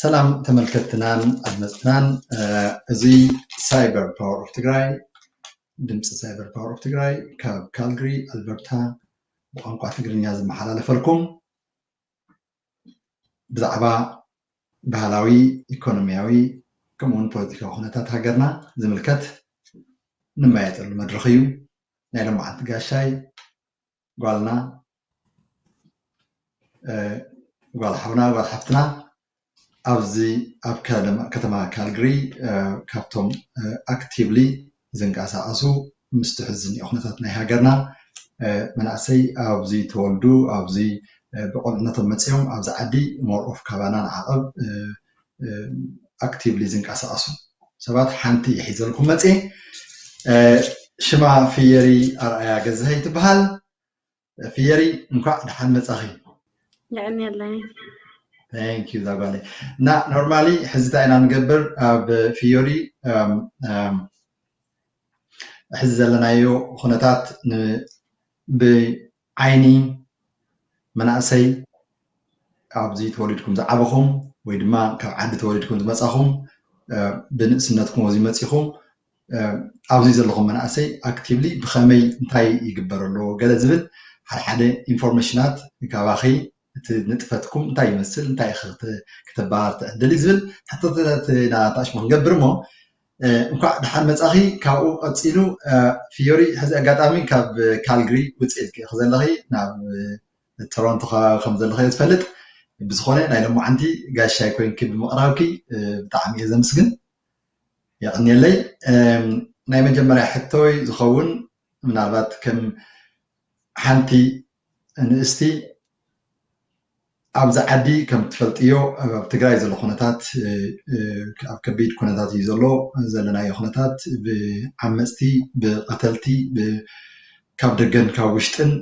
ሰላም ተመልከትናን ኣድመፅትናን እዚ ሳይበር ፓወር ኦፍ ትግራይ ድምፂ ሳይበር ፓወር ኦፍ ትግራይ ካብ ካልግሪ ኣልበርታ ብቋንቋ ትግርኛ ዝመሓላለፈልኩም ብዛዕባ ባህላዊ ኢኮኖሚያዊ ከምኡውን ፖለቲካዊ ኩነታት ሃገርና ዝምልከት ንመያየጠሉ መድረኽ እዩ ናይ ሎማዓንቲ ጋሻይ ጓልና ጓል ሓውና ጓል ሓፍትና ኣብዚ ኣብ ከተማ ካልግሪ ካብቶም ኣክቲቭሊ ዝንቀሳቐሱ ምስቲ ሕዚ ዝኒኦ ኩነታት ናይ ሃገርና መናእሰይ ኣብዚ ተወልዱ ኣብዚ ብቆልዕነቶም መፂኦም ኣብዚ ዓዲ ሞር ኦፍ ካባና ንዓቐብ ኣክቲቭሊ ዝንቀሳቀሱ ሰባት ሓንቲ ሒዘልኩም መፅ ሽማ ፍየሪ ኣርኣያ ገዛሀይ ትበሃል ፍየሪ እንኳዕ ደሓን መፃኺ የዕንየለይ ታንክ ዩ ዛጓለይ እና ኖርማሊ ሕዚ እንታይ ኢና ንገብር ኣብ ፍዮሪ ሕዚ ዘለናዮ ኩነታት ዓይኒ መናእሰይ ኣብዚ ተወሊድኩም ዝዓበኹም ወይ ድማ ካብ ዓዲ ተወሊድኩም ዝመፃኹም ብንእስነትኩም ኣብዚ መፂኹም ኣብዚ ዘለኹም መናእሰይ ኣክቲቭሊ ብኸመይ እንታይ ይግበር ኣሎ ገለ ዝብል ሓድሓደ ኢንፎርሜሽናት ካባኺ እቲ ንጥፈትኩም እንታይ ይመስል እንታይ ኢኺ ክተበሃር ትዕድሊ ዝብል ሕቶታት ኢና ኣታኣሽሙ ክንገብር እሞ እንኳዕ ደሓን መጻኺ ካብኡ ቀጺሉ ፍዮሪ ሕዚ ኣጋጣሚ ካብ ካልግሪ ውጽእ ኢልኪ ኢኺ ዘለኺ ናብ ቶሮንቶ ከባቢ ከም ዘለኺ እየ ዝፈልጥ ብዝኾነ ናይ ሎማዓንቲ ጋሻይ ኮንኪ ብምቕራብኪ ብጣዕሚ እየ ዘምስግን የቕንየለይ ናይ መጀመርያ ሕቶይ ዝኸውን ምናልባት ከም ሓንቲ ንእስቲ ኣብዚ ዓዲ ከም ትፈልጥዮ ኣብ ትግራይ ዘሎ ኩነታት ኣብ ከቢድ ኩነታት እዩ ዘሎ ዘለናዮ ኩነታት ብዓመፅቲ ብቐተልቲ ካብ ደገን ካብ ውሽጥን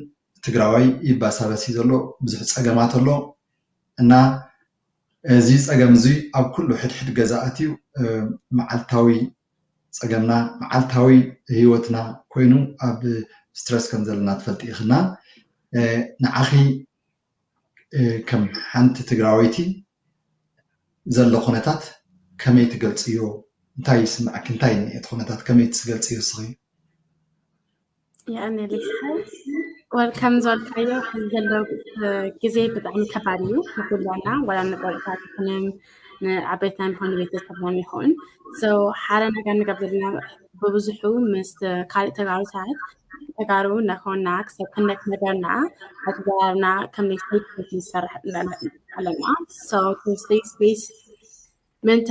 ትግራዋይ ይባሳበስ እዩ ዘሎ ብዙሕ ፀገማት ኣሎ እና እዚ ፀገም እዚ ኣብ ኩሉ ሕድሕድ ገዛ ኣትዩ መዓልታዊ ፀገምና መዓልታዊ ሂወትና ኮይኑ ኣብ ስትረስ ከም ዘለና ትፈልጢ ኢኺ እና ንዓኺ ከም ሓንቲ ትግራወይቲ ዘሎ ኩነታት ከመይ ትገልፅዮ? እንታይ ይስመዐኪ? እንታይ እዩ ዝኒሀ እቲ ኩነታት ከመይ ትገልፅዮ ንስኺ? ወልካም ዝበልካዮ ዘሎ ግዜ ብጣዕሚ ከባድ እዩ ንኩላትና ዋላ ንቆልዕታት ይኹን ንዓበይትና ይኹን ንቤተሰብና ይኹን ሓደ ነገር ንገብ ዘለና ብብዙሑ ምስ ካልእ ተጋሩ ሰባት ተጋሩ ነኾና ክሰብ ክንደክ ነገርና ኣትጋርና ከም ሌክትሪክ ንሰርሕ ኣለና ሶ ስፔስ ስፔስ ምንታ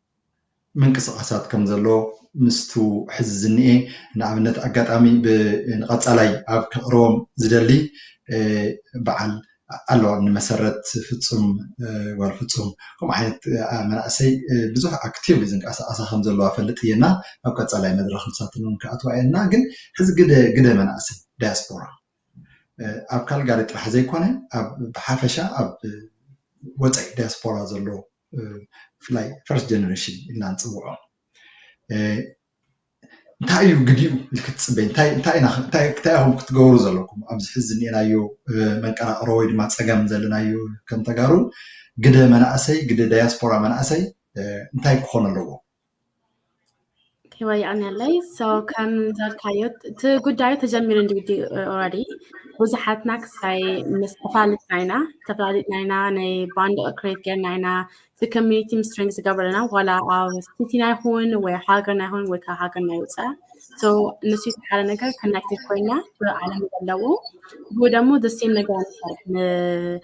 ምንቅስቓሳት ከም ዘሎ ምስቱ ሕዚ ዝኒኤ ንኣብነት ኣጋጣሚ ብ ንቐፃላይ ኣብ ከቕርቦም ዝደሊ በዓል ኣሎ እኒ መሰረት ፍፁም ጓል ፍፁም ከምኡ ዓይነት መናእሰይ ብዙሕ ኣክቲቭሊ ዝንቀሳቐሳ ከም ዘለዋ እፈልጥ እየ እና ኣብ ቀፃላይ መድረኽ ንሳተን እውን ክኣትዋ እየን እና ግን ሕዚ ግደ ግደ መናእሰይ ዳያስፖራ ኣብ ካልጋሪ ጥራሕ ዘይኮነ ኣብ ብሓፈሻ ኣብ ወፃኢ ዳያስፖራ ዘሎ ብፍላይ ፈርስት ጀነሬሽን ኢልና ንፅውዖ እንታይ እዩ ግዲኡ ኢልክ ትፅበ እንታይ ኢኹም ክትገብሩ ዘለኩም ኣብዚ ሕዚ ዝኒኤናዮ መንቀራቕሮ ወይ ድማ ፀገም ዘለናዮ ከም ተጋሩ ግደ መናእሰይ ግደ ዳያስፖራ መናእሰይ እንታይ ክኾን ኣለዎ ይወያኛለይ ሰው ከምዘልካዮ እቲ ጉዳዩ ተጀሚሩ እንዲ ኦረዲ ብዙሓትና ክሳይ ምስ ተፋልጥና ኢና ተፈላሊጥና ኢና ናይ ባንድ ክሬት ጌርና ኢና እቲ ኮሚኒቲ ምስ ትሬኒንግ ዝገበረና ዋላ ኣብ ሲቲና ይኹን ወይ ሃገርና ይኹን ወይ ካብ ሃገርና ይውፃእ ሰው እነሱ የተሓለ ነገር ኮናክትድ ኮይና ብዓለም ዘለዎ ብኡ ደግሞ ደሴም ነገር ንሰርሕ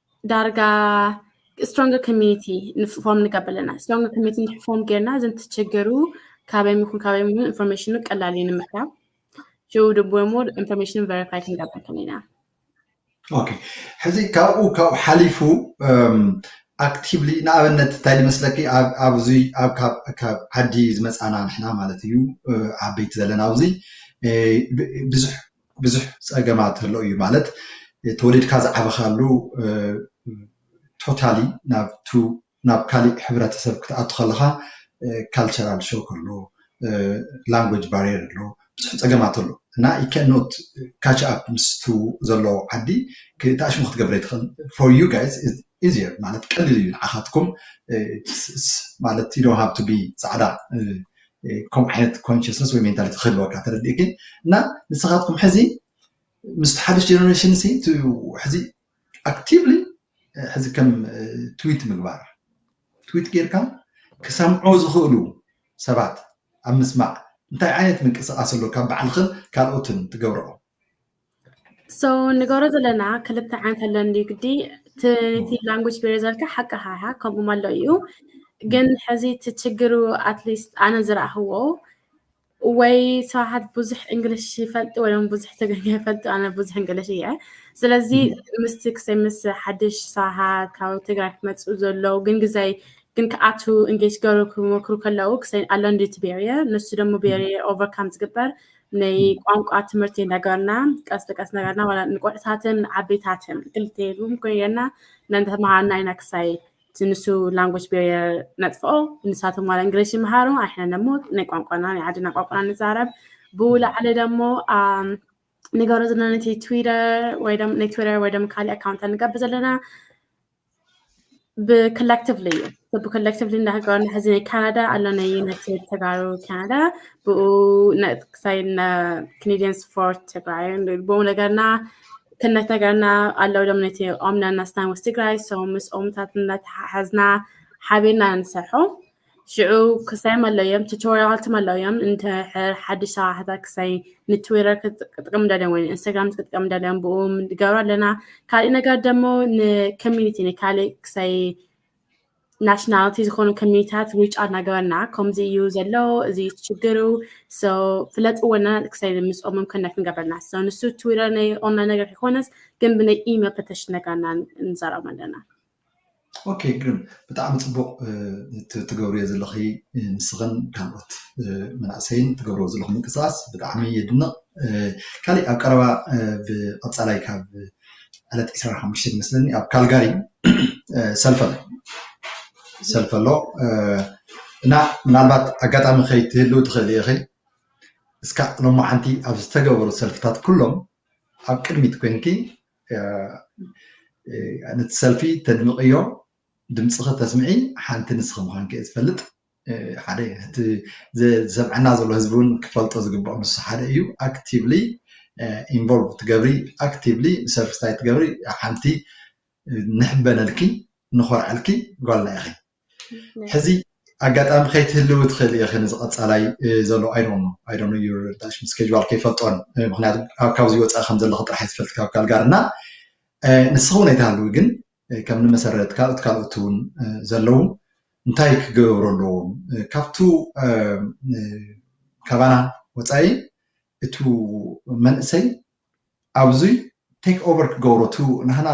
ዳርጋ ስትሮንግ ኮሚኒቲ ንፎም ንገብር ኣለና ስትሮንግ ኮሚኒቲ ንፎም ጌርና እዘን ትቸገሩ ካበይ ምኹን ካበይ ምኑ ኢንፎርሜሽኑ ቀላል እዩ ንምርካብ ሽው ድቦ እሞ ኢንፎርሜሽን ቨሪፋይ ክንገብር ከለና ኦኬ ሕዚ ካብኡ ካብኡ ሓሊፉ ኣክቲቭሊ ንኣብነት እንታይ ዝመስለኪ ኣብዚ ኣብ ካብ ዓዲ ዝመፃና ንሕና ማለት እዩ ዓበይቲ ዘለና ኣብዚ ብዙሕ ብዙሕ ፀገማት ኣሎ እዩ ማለት ተወሊድካ ዝዓበኻሉ ቶታሊ ናብቱ ናብ ካሊእ ሕብረተሰብ ክትኣቱ ከለኻ ካልቸራል ሾክ ኣሎ፣ ላንጉጅ ባርየር ኣሎ፣ ብዙሕ ፀገማት ኣሎ እና ዩ ካን ኖት ካች ኣፕ ምስቱ ዘሎ ዓዲ ተኣሽሙ ክትገብር ኣይትኽእልን ፎር ዩ ጋይስ ኢዝየር ማለት ቀሊል እዩ ንዓካትኩም ማለት ዩ ዶንት ሃቭ ቱ ቢ ፃዕዳ ከምኡ ዓይነት ኮንሽስነስ ወይ ሜንታሊቲ ክህልወካ ተረዲእኪ እና ንስካትኩም ሕዚ ምስቲ ሓድሽ ጀነሬሽን ሲ ሕዚ ኣክቲቭሊ ሕዚ ከም ትዊት ምግባር ትዊት ጌርካ ክሰምዑ ዝኽእሉ ሰባት ኣብ ምስማዕ እንታይ ዓይነት ምንቅስቃስ ኣሎ ካብ ባዕልክን ካልኦትን ትገብረኦ ሶ ንገብሮ ዘለና ክልተ ዓይነት ኣሎ እንድዩ ግዲ እቲ እቲ ላንጉጅ ቤሪ ዘልካ ሓቅኻ ኢኻ ከምኡ መሎ እዩ ግን ሕዚ እቲ ችግሩ ኣትሊስት ኣነ ዝረእኽዎ ወይ ሰብሓት ብዙሕ እንግሊሽ ይፈልጡ ወይ ም ብዙሕ ትግርኛ ይፈልጡ ኣነ ብዙሕ እንግሊሽ እየ ስለዚ ምስቲ ክሰይ ምስ ሓድሽ ሰብሓት ካብ ትግራይ ክመፁ ዘለዉ ግን ግዘይ ግን ክኣቱ እንጌጅ ገሩ ክመክሩ ከለዉ ክሰይ ኣሎ እንድዩ እቲ ቤሪየር ንሱ ደሞ ቤሪየር ኦቨርካም ዝግበር ናይ ቋንቋ ትምህርቲ ነገርና ቀስ ቀስ ነገርና ማለት ንቆልዕታትን ዓበይታትን ክልተ ኢሉ ኮይና እናተምሃርና ኢና ክሳይ እቲ ንሱ ላንጎጅ ቤሪየር ነጥፍኦ ንሳቶም ማለት እንግሊሽ ይምሃሩ ኣሕና ደሞ ናይ ቋንቋና ናይ ዓድና ቋንቋና ንዛረብ ብኡ ላዕሊ ደሞ ንገሮ ዘለና ነቲ ትዊተር ወይ ነቲ ትዊተር ወይ ደሞ ካልእ ኣካውንት ንገብር ዘለና ብኮሌክቲቭሊ እዩ ብኮሌክቲቭሊ እንዳሃገሩ ሕዚ ናይ ካናዳ ኣሎ ናይ ዩናይትድ ተጋሩ ካናዳ ብኡ ክሳይ ክኔዲያን ስፖርት ትግራይ ብኡ ነገርና ክነት ነገርና ኣለው ሎም ነቲ ኦምና እናስታን ወስ ትግራይ ሰው ምስ ኦምታት እናተሓሓዝና ሓቢርና ንሰርሖ ሽዑ ክሳይ መለዮም ቱቶሪያል ትመለዮም እንተ ሓድሽ ሰራሕታ ክሳይ ንትዊተር ክትጥቀም ደልዮም ወይ ኢንስታግራም ክትጥቀም ደልዮም ብኡ ንገብሮ ኣለና ካልእ ነገር ደሞ ንኮሚኒቲ ንካልእ ክሳይ ናሽናሊቲ ዝኾኑ ኮሚኒታት ሪች ኣውት ናገበርና ከምዚ እዩ ዘሎ እዚ እዩ ችግሩ ፍለጥዎና ክሳይ ምስኦምም ኮነክት ንገብረና ንሱ ትዊተር ናይ ኦንላይን ነገር ይኮነስ ግን ብናይ ኢሜል ፐተሽ ነገርና ንዛረም ኣለና ኦኬ ግርም ብጣዕሚ ፅቡቅ ትገብርዮ ዘለኺ ንስኽን ካልኦት መናእሰይን ትገብርዎ ዘለኹም ምንቅስቃስ ብጣዕሚ የድንቅ ካሊእ ኣብ ቀረባ ብቀፃላይ ካብ ዕለት ዕስራን ሓሙሽተን ይመስለኒ ኣብ ካልጋሪ ሰልፊ ኣሎ ሰልፊ ኣሎ እና ምናልባት ኣጋጣሚ ከይትህልው ትኽእሊ ኢኺ እስካዕ ሎማዓንቲ ኣብ ዝተገበሩ ሰልፍታት ኩሎም ኣብ ቅድሚት ኮይንኪ ነቲ ሰልፊ ተድምቕዮ ድምፅኺ ተስምዒ ሓንቲ ንስኺ ምዃንኪ እየ ዝፈልጥ ሓደ እቲ ዝሰምዐና ዘሎ ህዝቢ እውን ክፈልጦ ዝግብኦ ንሱ ሓደ እዩ ኣክቲቭሊ ኢንቮልቭ ትገብሪ ኣክቲቭሊ ሰርቪስታይ ትገብሪ ሓንቲ ንሕበነልኪ ንኾርዐልኪ ጓልና ኢኺ ሕዚ ኣጋጣሚ ከይትህልዊ ትኽእሊ ኢኺ ነዚ ቀፃላይ ዘሎ ኣይዶኖ ኣይዶኖ ስኬጅዋል ከይፈልጦን ምክንያቱ ካብዚ ወፃኢ ከም ዘለኹ ጥራሕ እየ ዝፈልጥ ካብ ካልጋር እና ንስኺ እውን ኣይትሃልዊ ግን ከም ንመሰረት ካልኦት ካልኦት እውን ዘለዉ እንታይ ክገብሩ ኣለዎም ካብቱ ካባና ወፃኢ እቱ መንእሰይ ኣብዙይ ቴክ ኦቨር ክገብሮ እቱ ንሕና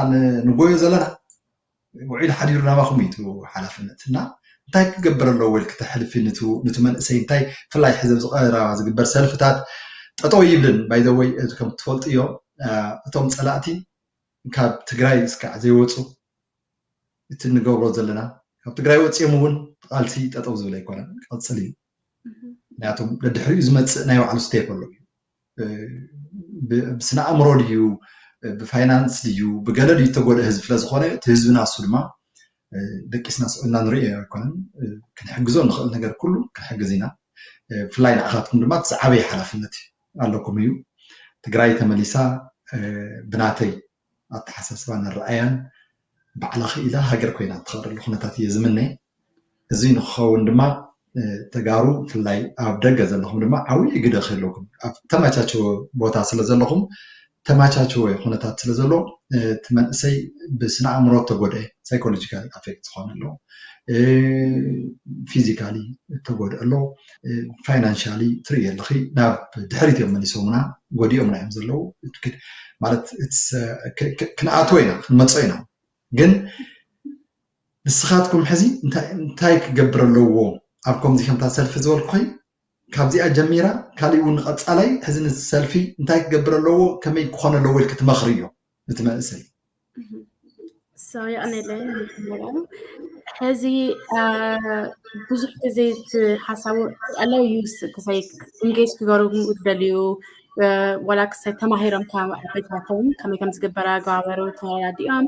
ንጎዮ ዘለና ውዒሉ ሓዲሩ ናባኹም እዩ እቲ ሓላፍነት እና እንታይ ክገብር ኣለዎ ኢልኪ ተሕልፊ ንቲ መንእሰይ እንታይ ብፍላይ ሕዚ ኣብዚ ቀረባ ዝግበር ሰልፍታት ጠጠው ይብልን ባይዘወይ እዚ ከም ትፈልጥዮ እቶም ፀላእቲ ካብ ትግራይ እስካዕ ዘይወፁ እቲ እንገብሮ ዘለና ካብ ትግራይ ወፂኦም እውን ቃልሲ ጠጠው ዝብል ኣይኮነን ቀፅል እዩ ምክንያቱም ደድሕሪኡ ዝመፅእ ናይ ባዕሉ ስቴፕ ኣሎ እዩ ብስነ ኣእምሮ ድዩ ብፋይናንስ ድዩ ብገለ ድዩ ዝተጎድኣ ህዝቢ ስለዝኾነ እቲ ህዝቢ ናሱ ድማ ደቂስና ስዒብና ንሪኦ ኣይኮነን ክንሕግዞ ንኽእል ነገር ኩሉ ክንሕግዝ ኢና ብፍላይ ንዓኻትኩም ድማ እቲ ዝዓበየ ሓላፍነት ኣለኩም እዩ ትግራይ ተመሊሳ ብናተይ ኣተሓሳስባን ኣረኣእያን ባዕላ ክኢላ ሃገር ኮይና እትኸብረሉ ኩነታት እየ ዝምነ። እዚ ንክኸውን ድማ ተጋሩ ብፍላይ ኣብ ደገ ዘለኹም ድማ ዓብዪ ግደ ክህለኩም ኣብ ተመቻቸወ ቦታ ስለ ዘለኹም ተመቻቸወ ኩነታት ስለ ዘሎ እቲ መንእሰይ ብስነ ኣእምሮ ተጎድአ ሳይኮሎጂካሊ ኣፌክት ዝኾነ ኣሎ ፊዚካሊ ተጎድአ ኣሎ። ፋይናንሻሊ ትርኢ ኣለኺ ናብ ድሕሪት እዮም መሊሶምና ጎዲኦምና እዮም ዘለዉ ማለት ክንኣትዎ ኢና ክንመፆ ኢና ግን ንስኻትኩም ሕዚ እንታይ ክገብር ኣለዎ ኣብ ከምዚ ከምታ ሰልፊ ዝበልኩኸይ ካብዚኣ ጀሚራ ካሊእ እውን ንቐፃላይ ሕዚ ንሰልፊ እንታይ ክገብር ኣለዎ ከመይ ክኾነ ኣለዎ ኢልክ ትመኽርዮ እቲ መንእሰይ ሰውያእነለ ሕዚ ብዙሕ ግዜ ሓሳቡ ኣለው ዩ ክሰይ እንጌጅ ክገሩ ደልዩ ዋላ ክሰይ ተማሂሮም ቤታቶም ከመይ ከም ዝግበረ ኣገባበሩ ተረዳዲኦም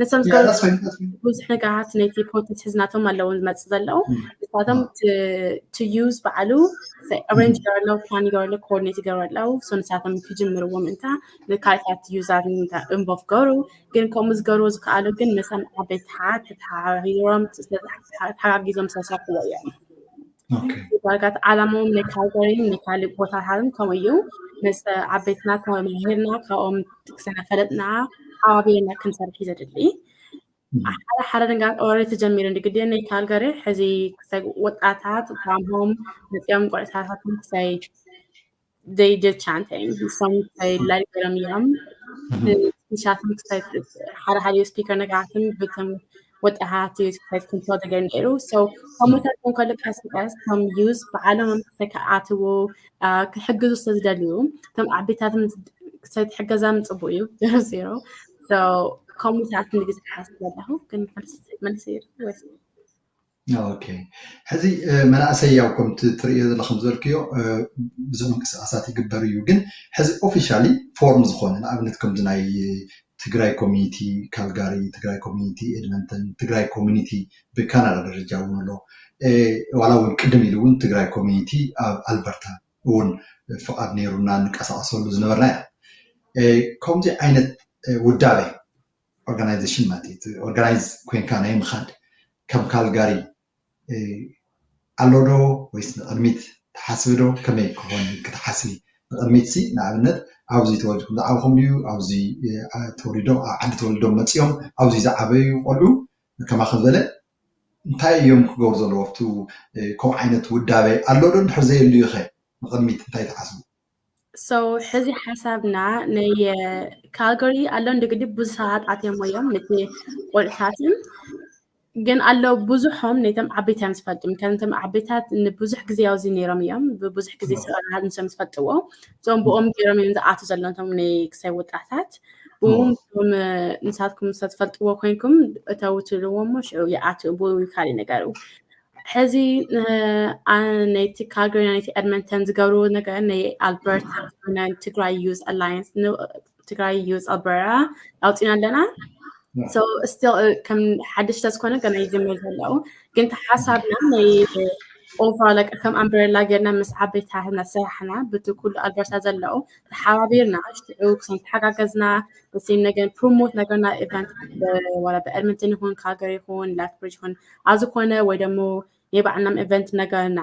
ንሶም ብዙሕ ነገራት ነቲ ኮንተንት ሕዝናቶም ኣለዎ ዝመፅእ ዘለዉ ንሳቶም ትዩዝ በዓሉ ሬንጅ ገረሎ ፕላን ገረሎ ኮኦርዲኔት ገሩ ኣለዉ ሶ ንሳቶም ክጅምርዎ ምእንታ ንካልታት ዩዛር እንቦፍ ገሩ ግን ከምኡ ዝገርዎ ዝከኣሉ ግን ምሳም ዓበይቲ ሓት ተተሓባቢሮም ተሓጋጊዞም ዝተሰርሕዎ እዮም ዳርጋት ዓላማውን መካገሪን መካልእ ቦታታትን ከምኡ እዩ ምስ ዓበይትና ተመምህርና ካብኦም ጥቅስነ ፈለጥና ሓዋቢርና ክንሰርሒ ዘድሊ ሓደ ሓደ ነገር ኦረ ተጀሚሩ ንግዲ ናይ ካልጋሪ ሕዚ ክሳይ ወጣታት ጓምቦም መፅኦም ቆዕሳታትን ክሳይ they did chanting. Some say like them yum. ንሻትን ክሳይ ሓደ ሓደ ስፒከር ነገራትን ብቶም ወጣሃት ስፒከር ክንቶ ደገር ነይሩ ሰው ከምታት ንከሉ ቀስ ቀስ ከም ዩዝ ብዓለም ተከኣትዎ ክሕግዙ ስለዝደልዩ ከም ዓቤታትን ክሳይ ትሕገዛ ምፅቡቅ እዩ ዜሮ ዜሮ ከምታት ንግዜ ሓስ ዘለኹ ግን መልሲ ወይስ ሕዚ መናእሰይ ያው ከምቲ ትርእዮ ዘለኹም ዘልክዮ ብዙ ምንቅስቃሳት ይግበር እዩ ግን ሕዚ ኦፊሻሊ ፎርም ዝኾነ ንኣብነት ከምዚ ናይ ትግራይ ኮሚኒቲ ካልጋሪ፣ ትግራይ ኮሚኒቲ ኤድመንተን፣ ትግራይ ኮሚኒቲ ብካናዳ ደረጃ እውን ኣሎ ዋላ እውን ቅድም ኢሉ እውን ትግራይ ኮሚኒቲ ኣብ ኣልበርታ እውን ፍቓድ ነይሩና ንቀሳቀሰሉ ዝነበርና ኢና ከምዚ ዓይነት ውዳበ ኦርጋናይዜሽን ማለት እዩ ኦርጋናይዝ ኮንካ ናይ ምኻድ ከም ካልጋሪ ኣሎ ዶ ወይስ ንቅድሚት ትሓስቢ ዶ ከመይ ክኾን ክትሓስቢ ንቅድሚት ሲ ንኣብነት ኣብዚ ተወልድኩም ዝዓብኹም ድዩ ኣብዚ ተወሊዶም ኣብ ዓዲ ተወሊዶም መፂኦም ኣብዚ ዝዓበዩ ቆልዑ ከማኸም ዘለ እንታይ እዮም ክገብሩ ዘለዎ ኣብቲ ከምኡ ዓይነት ውዳበ ኣሎ ዶ እንድሕር ዘየልዩ ኸ ንቅድሚት እንታይ ትሓስቡ ሕዚ ሓሳብና ናይ ካልጋሪ ኣሎ እንግዲህ ብዙ ሰባት ኣትየሞ እዮም ነቲ ቆልሳትን ግን ኣሎ ብዙሖም ነቶም ዓበይታን ዝፈልጡም ከምቶም ዓበይታት ንብዙሕ ግዜ ኣብዚ ነይሮም እዮም ብብዙሕ ግዜ ሰራት ንሶም ዝፈልጥዎ እዞም ብኦም ገይሮም እዮም ዝኣቱ ዘለንቶም ናይ ክሳይ ወጣታት ብኡም ንሳትኩም ሰ ትፈልጥዎ ኮንኩም እተውትልዎ ሞ ሽዑ ይኣት ብኡ ካልእ ነገሩ ሕዚ ነቲ ካልጋሪ ናይቲ ኤድመንተን ዝገብርዎ ነገር ናይ ኣልበርታ ናይ ትግራይ ዩዝ ኣላየንስ ትግራይ ዩዝ ኣልበራ ኣውፂና ኣለና ስቲል ከም ሓድሽ ተዝኮነ ገና ይጅምር ዘለዉ ግን ሓሳብና ናይ ኦቨር ከም ኣምበሬላ ጌርና ምስ ዓበይቲ ሃህና ሰራሕና ብቲ ኩሉ ኣልበርታ ዘለዉ ተሓባቢርና ሽዑ ክሰም ተሓጋገዝና ንስም ነገን ፕሮሞት ነገርና ኢቨንት ወላ ብኤድመንተን ይኹን ካልጋሪ ይኹን ላትብሪጅ ይኹን ኣዚ ኮነ ወይ ደሞ ናይ ባዕልናም ኤቨንት ነገርና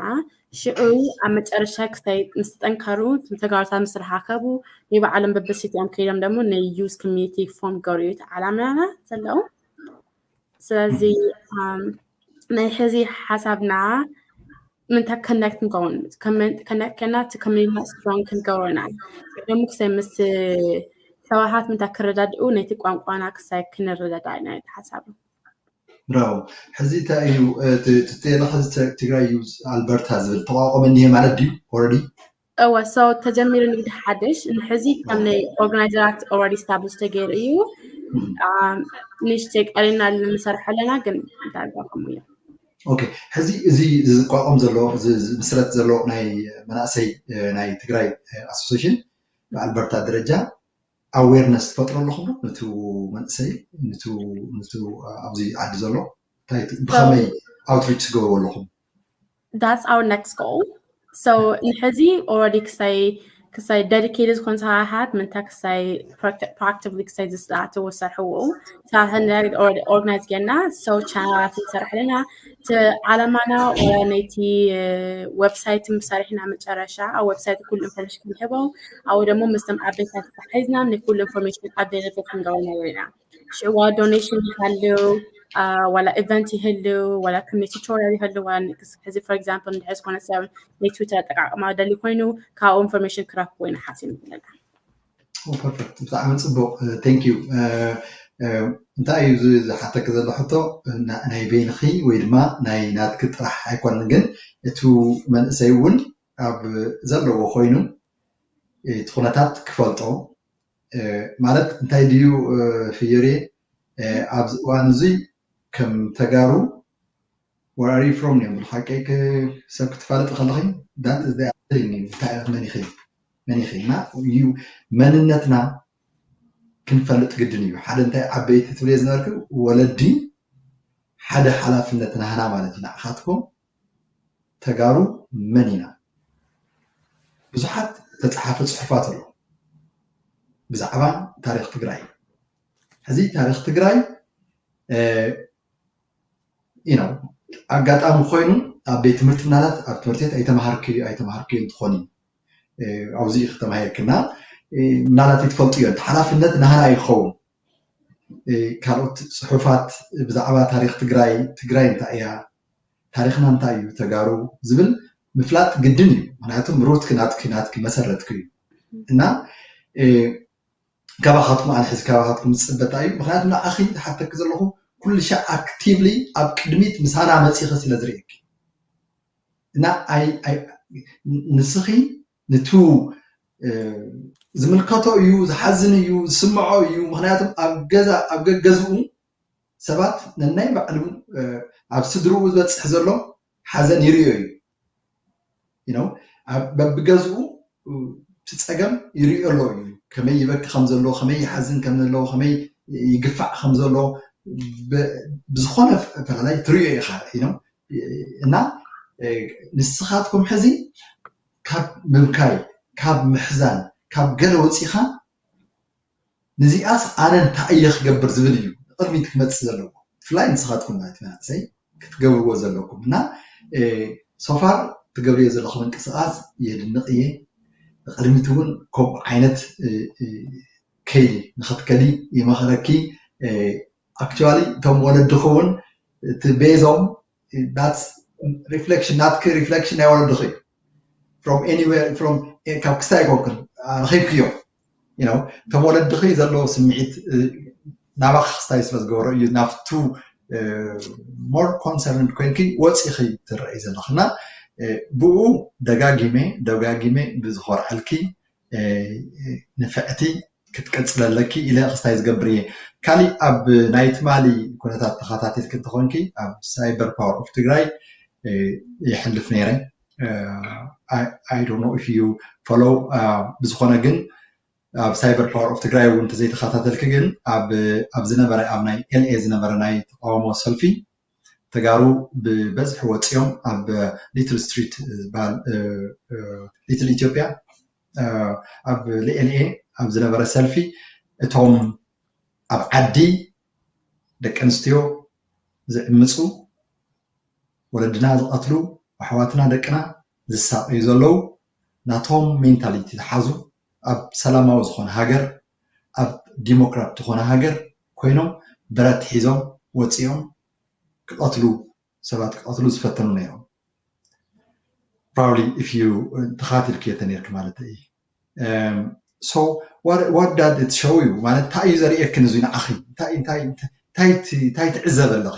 ሽዑ ኣብ መጨረሻ ክሳይ ምስ ጠንካሩ ተጋሩታ ምስ ረሓከቡ ናይ ባዕሎም በብሲቲኦም ከይዶም ደሞ ናይ ዩዝ ኮሚኒቲ ፎም ገሩ እቲ ዓላማና ዘለዉ ስለዚ ናይ ሕዚ ሓሳብና ምንታ ከነክት ንከውን ከነክት ከና እቲ ኮሚኒቲና ስትሮን ክንገብሮና ደሞ ክሳይ ምስ ሰባሃት ምንታ ክረዳድኡ ነቲ ቋንቋና ክሳይ ክንረዳዳ ኢና ሓሳብ ብራቮ ሕዚ እንታይ እዩ ትተየለ ሕዚ ትግራይ እዩ ኣልበርታ ዝብል ተቋቋመ እኒሄ ማለት ድዩ ኦረዲ እወ ሰው ተጀሚሩ ንግዲ ሓደሽ ንሕዚ ከም ናይ ኦርጋናይዘራት ኦረዲ ስታብሊሽ ተገይሩ እዩ ንሽተይ ቀሪና ንምሰርሖ ኣለና ግን ዳርጋ ከምኡ እዩ ኦኬ ሕዚ እዚ ዝቋቋም ዘሎ ምስረት ዘሎ ናይ መናእሰይ ናይ ትግራይ ኣሶሴሽን ብኣልበርታ ደረጃ ኣዌርነስ ትፈጥሩ ኣለኹም ዶ ነቲ መንእሰይ ነቲ ኣብዚ ዓዲ ዘሎ እንታይ ብኸመይ ኣውትሪች ትገብሩ ኣለኹም That's our next goal. So ንሕዚ already ክሳይ ክሳይ dedicated ዝኾን ሰራሓት ምንታ ክሳይ practically ክሳይ ዝስላዕተዎ ዝሰርሕዎ ሳህነግ ኦርጋናይዝ ጌና ሰው ቻናላት ንሰርሕ ኣለና እቲ ዓላማና ነቲ ወብሳይት ምሰርሕና መጨረሻ ኣብ ወብሳይት ኩሉ ኢንፎርሜሽን ክንህቦም ኣብኡ ደግሞ ምስቶም ዓበይታት ተሓሒዝና ንኩሉ ኢንፎርሜሽን ኣቬለብል ክንገብረና ኢና ሽዑ ዋላ ዶኔሽን ይሃልው ዋላ ኢቨንት ይህልው ዋላ ክምኒ ቱቶሪያል ይህልው ዋላ ሕዚ ፎር ኤግዛምፕል ንድሕር ዝኾነ ሰብ ናይ ትዊተር ኣጠቃቅማ ደሊ ኮይኑ ካብኡ ኢንፎርሜሽን ክረክቡ ኢና ሓሲብ ዘለና ፐርፌክት ብጣዕሚ ፅቡቅ ቴንኪዩ እንታይ እዩ ዝሓተኪ ዘሎ ሕቶ ናይ በይንኺ ወይ ድማ ናይ ናትኪ ጥራሕ ኣይኮነን ግን እቲ መንእሰይ እውን ኣብ ዘለዎ ኮይኑ እቲ ኩነታት ክፈልጦ ማለት እንታይ ድዩ ፍዮሬ ኣብዚ እዋን እዙይ ከም ተጋሩ Where are you from እዮም ብሓቂ ሰብ ክትፋለጢ ከለኺ that is the thing እዩ እንታይ ኢኺ መን ኢኺ መን ኢኺ እና እዩ መንነትና ክንፈልጥ ግድን እዩ ሓደ እንታይ ዓበይቲ ትብልየ ዝነበርክ ወለዲ ሓደ ሓላፍነት ናህና ማለት እዩ ንዓኻትኩም ተጋሩ መን ኢና ብዙሓት ተፃሓፈ ፅሑፋት ኣሎ ብዛዕባ ታሪክ ትግራይ ሕዚ ታሪክ ትግራይ ኣጋጣሚ ኮይኑ ኣብ ቤት ትምህርቲ ምናልባት ኣብ ትምህርቲ ቤት ኣይተምሃርክይ ኣይተምሃርክይን ትኾኒ ኣብዚ ኢኺ ተማሂርኪ እና ምናልባት ኣይትፈልጥዮ እቲ ሓላፍነት ናህና እዩ ክኸውን ካልኦት ፅሑፋት ብዛዕባ ታሪክ ትግራይ ትግራይ እንታይ እያ ታሪክና እንታይ እዩ ተጋሩ ዝብል ምፍላጥ ግድን እዩ ምክንያቱም ሩትኪ ናትኪ ናትኪ መሰረትኪ እዩ እና ካባካትኩም ኣነ ሕዚ ካባካትኩም ዝፅበ እንታይ እዩ ምክንያቱ ንዓኪ ዝሓተኪ ዘለኩ ኩልሻዕ ኣክቲቭሊ ኣብ ቅድሚት ምሳና መፂኪ ስለ ዝሪኤኪ እና ንስኪ ንቱ ዝምልከቶ እዩ ዝሓዝን እዩ ዝስምዖ እዩ ምክንያቱ ኣብ ገዛ ኣብ ገገዝኡ ሰባት ነናይ ባዕሉ ኣብ ስድርኡ ዝበፅሕ ዘሎ ሓዘን ይርእዮ እዩ you know ኣብ በብገዝኡ እ፣ እቲ ፀገም ይርእዮ ኣሎ እዩ ከመይ ይበኪ ከም ዘለዎ ከመይ ይሓዝን ከም ዘለዎ ከመይ ይግፋዕ ከም ዘለዎ ብ- ብዝኾነ ፈላላይ ትርእዮ ኢኻ you know እና እ፣ ንስኻትኩም ሕዚ ካብ ምብካይ ካብ ምሕዛን ካብ ገለ ወፂኻ ንዚኣስ ኣነ እንታይ እየ ክገብር ዝብል እዩ ንቅድሚት ክመፅእ ዘለዎ ብፍላይ ንስካትኩም ናይቲ መናእሰይ ክትገብርዎ ዘለኩም እና ሶፋር ትገብርዮ ዘለኩ ምንቅስቃስ የድንቅ እየ ንቅድሚት እውን ከምኡ ዓይነት ከይዲ ንክትከዲ ይመክረኪ ኣክችዋሊ እቶም ወለድኪ እውን እቲ ቤዞም ሪፍለክሽን ናትኪ ሪፍለክሽን ናይ ወለድኺ እዩ ፍሮም ኤኒዌር ፍሮም ካብ ክስታይ ኣይኮንክን ረኺብክዮ ነው እቶም ወለድኺ ዘለዎ ስምዒት ናባኺ ክስታይ ስለ ዝገበሮ እዩ ናብቱ ሞር ኮንሰርንድ ኮይንኪ ወፂኺ ትረአይ ዘለኺ እና ብኡ ደጋጊመ ደጋጊመ ብዝኾርዐልኪ ንፍዕቲ ክትቅፅሊ ኣለኪ ኢለ ክስታይ ዝገብር እየ ካሊእ ኣብ ናይ ትማሊ ኩነታት ተካታቲልኪ እንተኮይንኪ ኣብ ሳይበር ፓወር ኦፍ ትግራይ ይሕልፍ ነይረ ኣይ ዶንት ኖ ኢፍ ዩ ፎሎው ብዝኮነ ግን ኣብ ሳይበር ፓወር ኦፍ ትግራይ እውን እንተዘይተካታተልኪ ግን ኣብ ዝነበረ ኣብ ናይ ኤልኤ ዝነበረ ናይ ተቃውሞ ሰልፊ ተጋሩ ብበዝሒ ወፂኦም ኣብ ሊትል ስትሪት ዝበሃል ሊትል ኢትዮጵያ ኣብ ሊኤሊኤ ኣብ ዝነበረ ሰልፊ እቶም ኣብ ዓዲ ደቂ ኣንስትዮ ዝዕምፁ፣ ወለድና ዝቐትሉ፣ ኣሕዋትና ደቅና ዝሳቐዩ ዘለዉ ናቶም ሜንታሊቲ ዝሓዙ ኣብ ሰላማዊ ዝኾነ ሃገር ኣብ ዲሞክራት ዝኾነ ሃገር ኮይኖም ብረት ሒዞም ወጺኦም ክቀትሉ ሰባት ክቀትሉ ዝፈተኑ ነይሮም ፕሮባብሊ ኢፍ ዩ ተኸታቲልክዮ ተነይርኪ ማለት እዪ ሶ ዋት ዳት ኢት ሾው ዩ ማለት እንታይ እዩ ዘርእየክን እዚ ንዓኺ እንታይ እንታይ እንታይ ትዕዘቢ ኣለኺ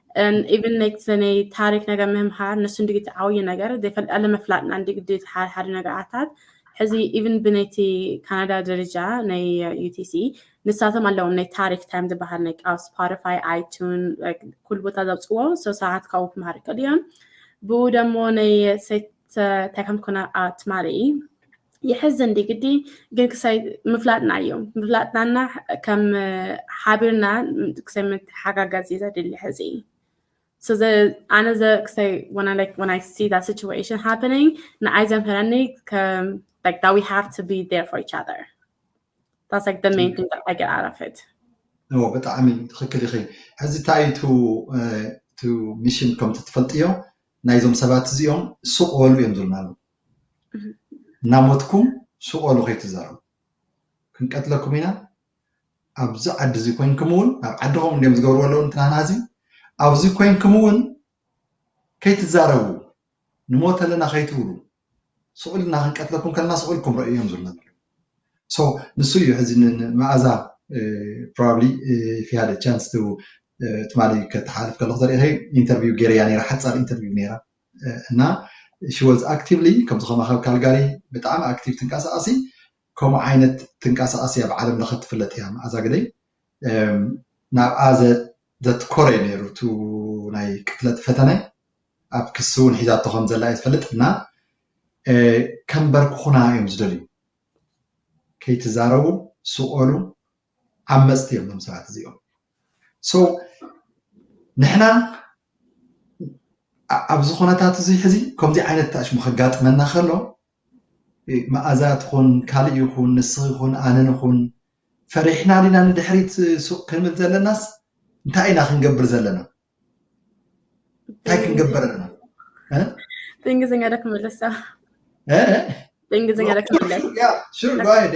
ኢቨን ነቲ ናይ ታሪክ ነገር ምህምሃር ንሱ እንዲ እቲ ዓብዩ ነገር ዘይፈልጣለ ምፍላጥና እንዲ ግዲ እቲ ሓደ ሓደ ነገራታት ሕዚ ኢቨን ብናይቲ ካናዳ ደረጃ ናይ ዩቲሲ ንሳቶም ኣለዎም ናይ ታሪክ ታይም ዝበሃል ናይ ኣብ ስፖቲፋይ ኣይቱን ኩሉ ቦታ ዘውፅዎ ሰው ሰዓት ካብኡ ክምሃር ይኽእል እዮም ብኡ ደሞ ናይ እንታይ ከም ኮነ ትማሊ የሕዝን ዲግዲ ግን ክሳይ ምፍላጥና እዩ ምፍላጥናና ከም ሓቢርና ክሳይ ምትሓጋገዝ እዩ ዘድሊ ሕዚ ስዘ ኣነ ዘ ክሳይ ወና ላይክ ወን ኣይ ሲ ዳት ሲቹዌሽን ሃፕኒንግ ንኣይ ዘምህረኒ ከም ላይክ ዳት ዊ ሃቭ ቱ ቢ ዴር ፎር ኢች ኣዘር ዳትስ ላይክ ደ ሜን ቲንግ ዳት ኣይ ጌት ኣውት ኦፍ ኢት ብጣዕሚ ትኽክል ኢኺ ሕዚ እንታይ እዩ እቲ ሚሽን ከምቲ ትፈልጥዮ ናይዞም ሰባት እዚኦም ሱቅ በሉ እዮም ዝብሉና ኣለዉ እናሞትኩም ሱቅ በሉ ከይትዛረቡ ክንቀትለኩም ኢና ኣብዚ ዓዲ እዚ ኮይንኩም እውን ኣብ ዓድኹም እንዲም ዝገብርዎ ኣለዉ ንትናና እዚ ኣብዚ ኮይንኩም እውን ከይትዛረቡ ንሞት ኣለና ከይትብሉ ስዑል እና ክንቀትለኩም ከለና ስዑል ክምረኡ እዮም ዝብለና ሶ ንሱ እዩ ሕዚ ንመኣዛ ፕሮባብሊ ፊሃደ ቻንስ ቱ ትማሊ ከተሓልፍ ከለኩ ተሪኢኺ ኢንተርቪው ገይረያ ነይራ ሓፃር ኢንተርቪው ነይራ እና ሺ ወዝ ኣክቲቭሊ ከምዚ ከማኸ ኣብ ካልጋሪ ብጣዕሚ ኣክቲቭ ትንቀሳቐሲ ከምኡ ዓይነት ትንቀሳቐሲ ኣብ ዓለም ለኸ ትፍለጥ እያ መኣዛ ግደይ ናብኣ ዘትኮረ እዩ ነይሩ እቲ ናይ ቅትለት ፈተነ ኣብ ክሲ እውን ሒዛቶ ከም ዘላ እዩ ዝፈልጥ እና ከንበርክኹና እዮም ዝደልዩ ከይትዛረቡ ስቆሉ ዓመፅቲ እዮም ዞም ሰባት እዚኦም ሶ ንሕና ኣብዚ ኩነታት እዚ ሕዚ ከምዚ ዓይነት ታሽሙ ከጋጥመና ከሎ መኣዛ ትኹን ካልእ ይኹን ንስኺ ይኹን ኣነ ንኹን ፈሪሕና ዲና ንድሕሪት ሱቕ ክንብል ዘለናስ እንታይ ኢና ክንገብር ዘለና እንታይ ክንገብር ኣለና ብእንግሊዝኛ ዶ ክምለሳ ብእንግሊዝኛ ዶ ክምለስ ሹር ጓየድ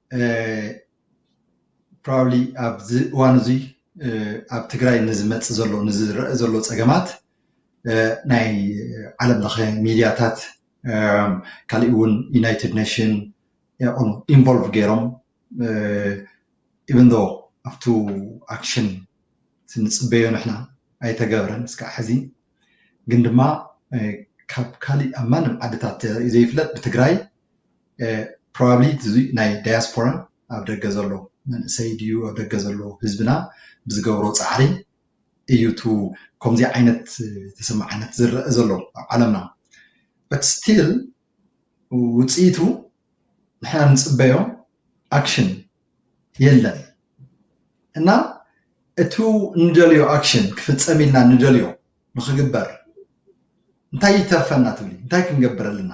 ፕሮባብሊ ኣብዚ እዋን እዚ ኣብ ትግራይ ንዝመፅ ዘሎ ንዝረአ ዘሎ ፀገማት ናይ ዓለም ለኸ ሚድያታት ካሊእ እውን ዩናይትድ ኔሽን ኢንቮልቭ ገይሮም ኢቨን ዶ ኣብቱ ኣክሽን ንፅበዮ ንሕና ኣይተገብረን እስካዕ ሕዚ ግን ድማ ካብ ካሊእ ኣብ ማንም ዓድታት ዘይፍለጥ ብትግራይ ፕሮባብሊ እዚ ናይ ዳያስፖራ ኣብ ደገ ዘሎ መንእሰይ ድዩ ኣብ ደገ ዘሎ ህዝብና ብዝገብሮ ፃዕሪ እዩ እቱ ከምዚ ዓይነት ተሰማዕነት ዝረአ ዘሎ ኣብ ዓለምና በት ስቲል ውፅኢቱ ንሕና ንፅበዮ ኣክሽን የለን እና እቱ ንደልዮ ኣክሽን ክፍፀም ኢልና ንደልዮ ንክግበር እንታይ ይተርፈና ትብሊ እንታይ ክንገብር ኣለና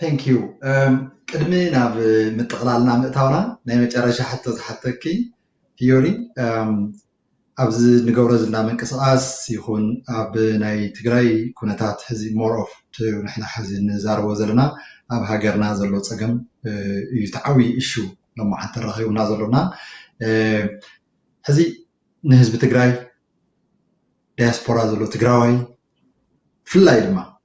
Thank you ቅድሚ ናብ ምጥቕላልና ምእታውና ናይ መጨረሻ ሕቶ ዝሓተኪ ፊዮሪ ኣብዚ ንገብሮ ዘለና ምንቅስቓስ ይኹን ኣብ ናይ ትግራይ ኩነታት ሕዚ ሞር ኦፍ ንሕና ሕዚ ንዛረቦ ዘለና ኣብ ሃገርና ዘሎ ፀገም እዩ ተዓዊ እሹ ሎማዓንቲ ረኺቡና ዘሎና ሕዚ ንህዝቢ ትግራይ ዲያስፖራ ዘሎ ትግራዋይ ብፍላይ ድማ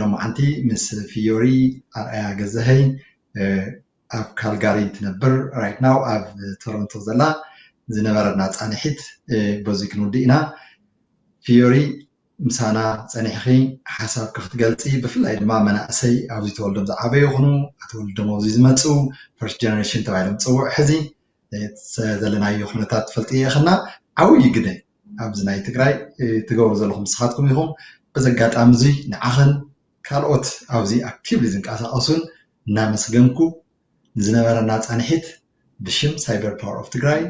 ሎማዓንቲ ምስ ፍዮሪ ኣርኣያ ገዛሀኝ ኣብ ካልጋሪ ትነብር right now ኣብ ቶሮንቶ ዘላ ዝነበረና ፃንሒት በዙይ ክንውድእ ኢና ፍዮሪ ምሳና ፀኒሕኺ ሓሳብኪ ክትገልፂ ብፍላይ ድማ መናእሰይ ኣብዚ ተወልዶም ዝዓበዩ ይኹኑ ኣተወልዶም ኣብዚ ዝመፅኡ ፈርስት ጀነሬሽን ተባሂሎም ዝፅውዑ ሕዚ ዘለናዮ ኩነታት ትፈልጥዮ ኢኪ እና ዓብይ ግደ ኣብዚ ናይ ትግራይ ትገብሩ ዘለኩም ንስካትኩም ኢኩም በዚ ኣጋጣሚ እዚ ንዓክን ካልኦት ኣብዚ ኣክቲቭሊ ዝንቀሳቀሱን እናመስገንኩ ንዝነበረና ፃንሒት ብሽም ሳይበር ፓወር ኦፍ ትግራይ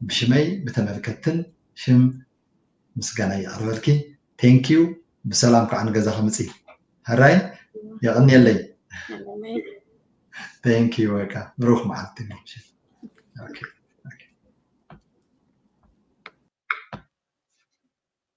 ብሽመይ ብተመልከትትን ሽም ምስጋናይ የቅርበልኪ thank you ብሰላም ከዓ ንገዛኪ ምፂ ሕራይ የቀንየለይ thank you በቃ ብሩክ መዓልቲ okay